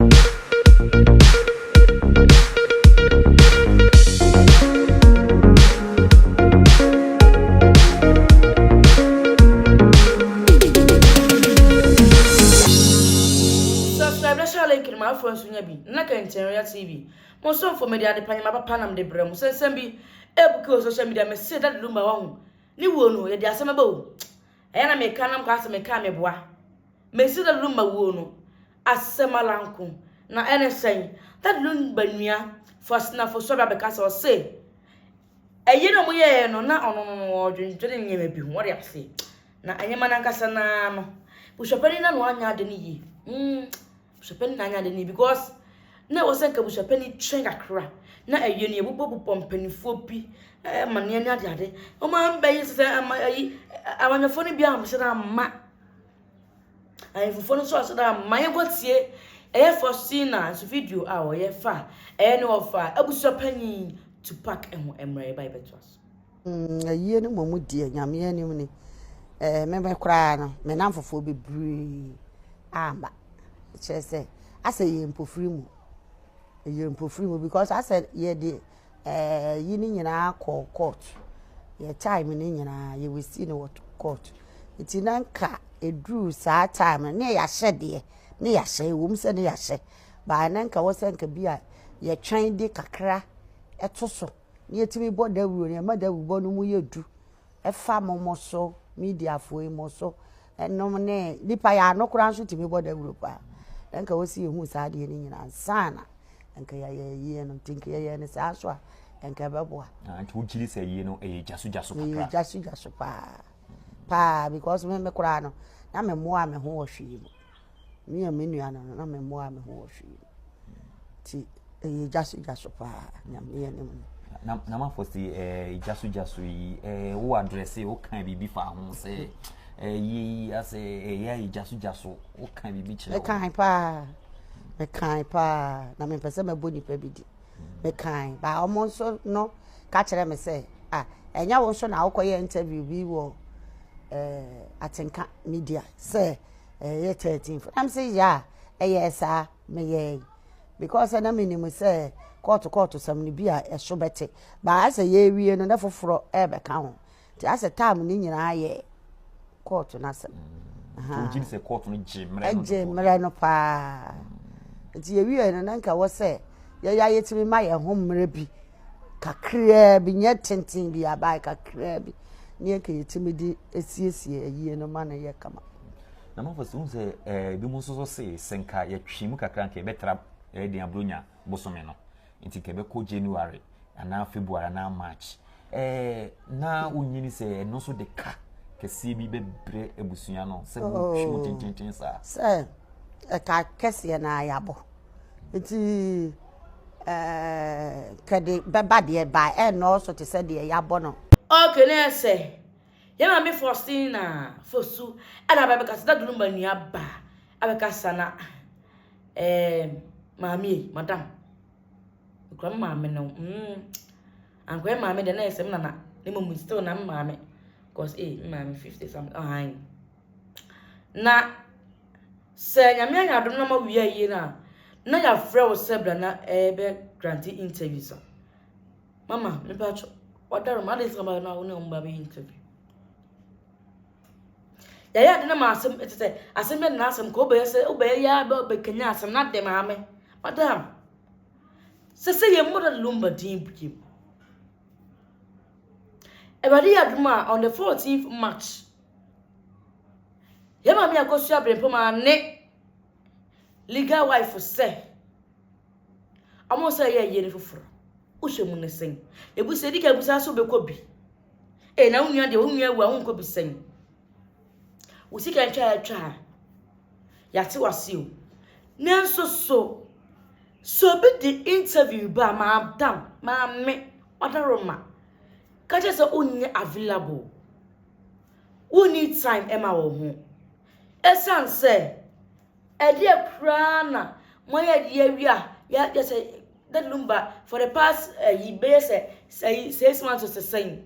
Subscribe na share link no ma afoɔ nso nya bi na Kɛntɛnrɛa TV mo somfo mede ade pa nyama papa nam de brɛ mo sɛ nsɛm bi ɛbuki wɔ social media mese Daddy Lumba wahu ne wuo no yɛde asɛm ɛba o Ɛyɛ na meka nam kwa sɛ mekaa meboa. Mesi Dadi Lumba wuo no asɛm ara nko, na ɛne sɛn? Dadi Lumba nua Faustina Fosu-Abrah bɛka sɛ ɔse ɛyɛ na wɔyɛɛ no na ɔno no ɔredwendwene nneɛma bi ho, wɔde aseɛ. Na nneɛma no ankasa no ara no, busuapanin no ano anyɛ ade no yie. Mm. Busuapɛn na anyɛ ade no because na ɛwɔ sɛ nka busuapɛn no twɛn kakra na ɛyɛ no yɛbobɔbobɔ mpanimfoɔ bi ɛmaneɛ ne adeade wɔn ambɛyi sɛ sɛ ama ayi amanyɔfoɔ no bi amhyɛ da amma ahemfofoɔ no nso ahyɛ da amma yɛnkɔ tie ɛyɛ Faustina nso video a wɔyɛ fa ɛyɛ ne wɔfa abusuapanyin Tupac ɛho mmerɛ yɛba yɛbɛtoa so. Mm, ayie no mmom deɛ nyameɛ anim ni eh, meme koraa no me namfofoɔ bebree amba kyerɛ sɛ asɛ yɛ mpofiri mu yɛ mpofiri mu because asɛ yɛde eh, yi no nyinaa kɔ court yɛ time no nyinaa yɛwɛsi no wɔ court nti na nka ɛduru saa time no ne yɛahyɛ deɛ ne yɛahyɛ ɛwom sɛ ne yɛahyɛ baa na nka wɔ sɛ nka bi a yɛtwɛn de kakra ɛto so na yɛtumi bɔ dawuro no ɛma dawurubɔ no mu yɛ du ɛfa mo mo so mediafoɔ yi mo so ɛnom ne nipa yɛ ano koraa nso tumi bɔ dawuro paa na nka wɔsi yɛhu saa adeɛ no nyinaa nsaana nka yɛyɛ yie no nti nka yɛyɛ no saa so a nka ɛbɛboa ah, nti wogyiri sɛ yie no ɛyɛ gyasogyaso kakra ɛyɛ gyasogyaso paa paa because me me koraa no na memmoa me ho wɔ hwee mu Me a me nua no no na memmoaa me ho wɔ hwee mu. Nti ɛyɛ gya so gya so paa nyame yɛ ne mu. Na na mafo se ɛɛ gya so gya so yi ɛɛ wo adrɛse wo kan biribi fa ho sɛ ɛɛ yi asɛ ɛyɛ ɛyɛ gya so gya so wo kan biribi kyerɛ wo. Ɛkan paa ɛkan paa na mempɛ sɛ mɛbɔ nipa bi di. Ɛkan baa wɔn nso no ka kyerɛ me sɛ ah ɛnyɛ wo nso na wokɔyɛ interview bi wɔ ɛɛ atenka media sɛ. ɛyɛ thirteen fo na me sɛ yaa ɛyɛɛ saa meyɛɛ because na menim sɛ kɔɔto kɔɔto sɛm no bi a ɛso bɛte baa asɛ yɛawie no na foforɔ ɛrebɛka ho nti asɛ tam no nyinaa yɛ kɔɔto no asɛm gyegye sɛ kɔɔto no gye mmerɛ no gye mmerɛ no paa nti yɛwie no na nka wɔ sɛ yɛyɛ ayɛtumi ma yɛn ho mmerɛ bi Kakraa bi, nyɛ tenten bi, abae kakraa bi ne yɛka yɛtumi de asiesie ayie no ma no yɛ kama. Na mafo sɛ wohu sɛ eh, bi mu nso so se sɛ nka yɛtwe mu kakra nka yɛbɛtra eh, den aburonya bosome no nti nka yɛbɛkɔ January anaa February anaa March eh, na wonyini sɛ ɛno nso de ka kɛseɛ bi bɛbrɛ abusua no sɛ motwe mu tententen saa sɛ ɛka kɛseɛ na ayabɔ nti kɛde bɛba deɛ bae ɛnnɔɔso te sɛ deɛ yɛabɔ no. Ok na ɛsɛ yɛ maame Faustina Fosu ɛna aba bɛkasa na Dunuma nua ba abɛkasa na eh, maame ei, madam mekura me maame no mm, ankoyɛ maame deɛ na ɛsɛ me nana ne mmom still na me maame cause eh, me maame 50 something ɔhan Na sɛ Nyame ayɛ adom na ma wia yie no a, na yɛafrɛ wo sɛ bra na ɛbɛ grante interview sa. Mama, mepa kyɛ, wadaro ma, adɛn nti na ɔba na wo ne ɔmo ba bɛyɛ interview? Yɛayɛ ade na ma asɛm, ɛte sɛ asɛm bɛ na asɛm ka, wobɛyɛ sɛ, wobɛyɛ yɛ abɛ bɛkanya asɛm na dɛ maame. Madam, sɛ sɛ yɛ mmɔda lumba din biem. Awurade yɛ adom a, on the 14th March, Yɛn maame akosua berempɔn maa ne legal wife sɛ ɔmo sɛ yɛ yere foforɔ wohwɛ mu ne sɛn ebusa edi ka ebusa so bɛkɔ bi ee na wo nua deɛ wo nua awu a wonkɔ bi sɛn wo sika ntwa a atwa a yɛate wase o nanso so so obi de interview ba maadam maame ɔdaroma ka kyerɛ sɛ wonyɛ available Wonni time ɛma wo ho. Ɛsan sɛ ɛdeɛ koraa na moayɛ de awie a yɛ sɛ that lumba for the past ɛyi eh, bɛyɛ sɛ ɛyi eh, six months or sɛn.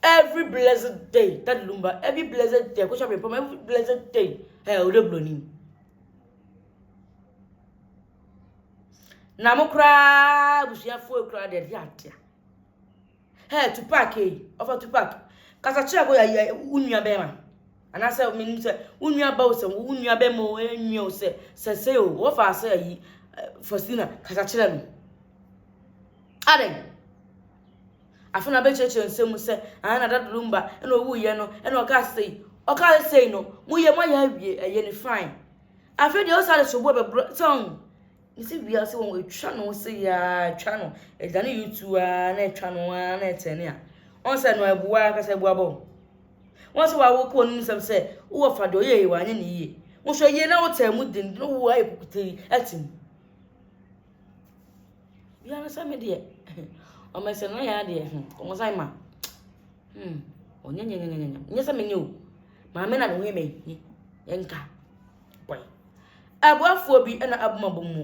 Every blessed day that lumba every blessed day kò sọ pé pọmọ every blessed day ẹ ọdẹ buloni. Na mo koraa abusuafoɔ koraa deɛ ɛde adeɛ. Hey Tupac ei, ɔfa Tupac. Kasa kyerɛ boy ayɛ wo nua bɛrima. Anaasɛ menim sɛ wo nua ba o sɛ wo nua bɛrima o ɛnwia o sɛ sɛ sɛ o wɔfa sɛ ayi Faustina kasa kyerɛ no. Adɛn? Afei na bɛkyerɛkyerɛ nsɛm mu sɛ ana na dadoro mba ɛna ɔwuiɛ no ɛna ɔka sei ɔka sei no moyɛ moayɛ awie ɛyɛ ne fine. Afei deɛ ɔsa de soboɔ bɛbrɛ sɛ ɔn Mese wiase wɔn etwa ne ho se yaa etwa no ɛda ne YouTube aa na etwa no aa na ɛtɛne a wɔn sɛ no ɛboa ankasa ɛboa bɔ wɔn sɛ wɔawo kɔ wɔn nsɛm sɛ wowɔ fa deɛ ɔyɛ yie wɔanyɛ ne yie wɔn sɛ yie na wotɛn mu den na wo ayɛ kukuta yi ɛte mu biara sɛ me deɛ wɔn ɛsɛ no ayɛ adeɛ wɔn sɛ ma hmm wɔnyɛ nyɛ nyɛ nyɛ nyɛ nyɛ sɛ me nyɛ o maame na ne ho yɛ me nka. Boy. Aboafoɔ bi na abom abom mu.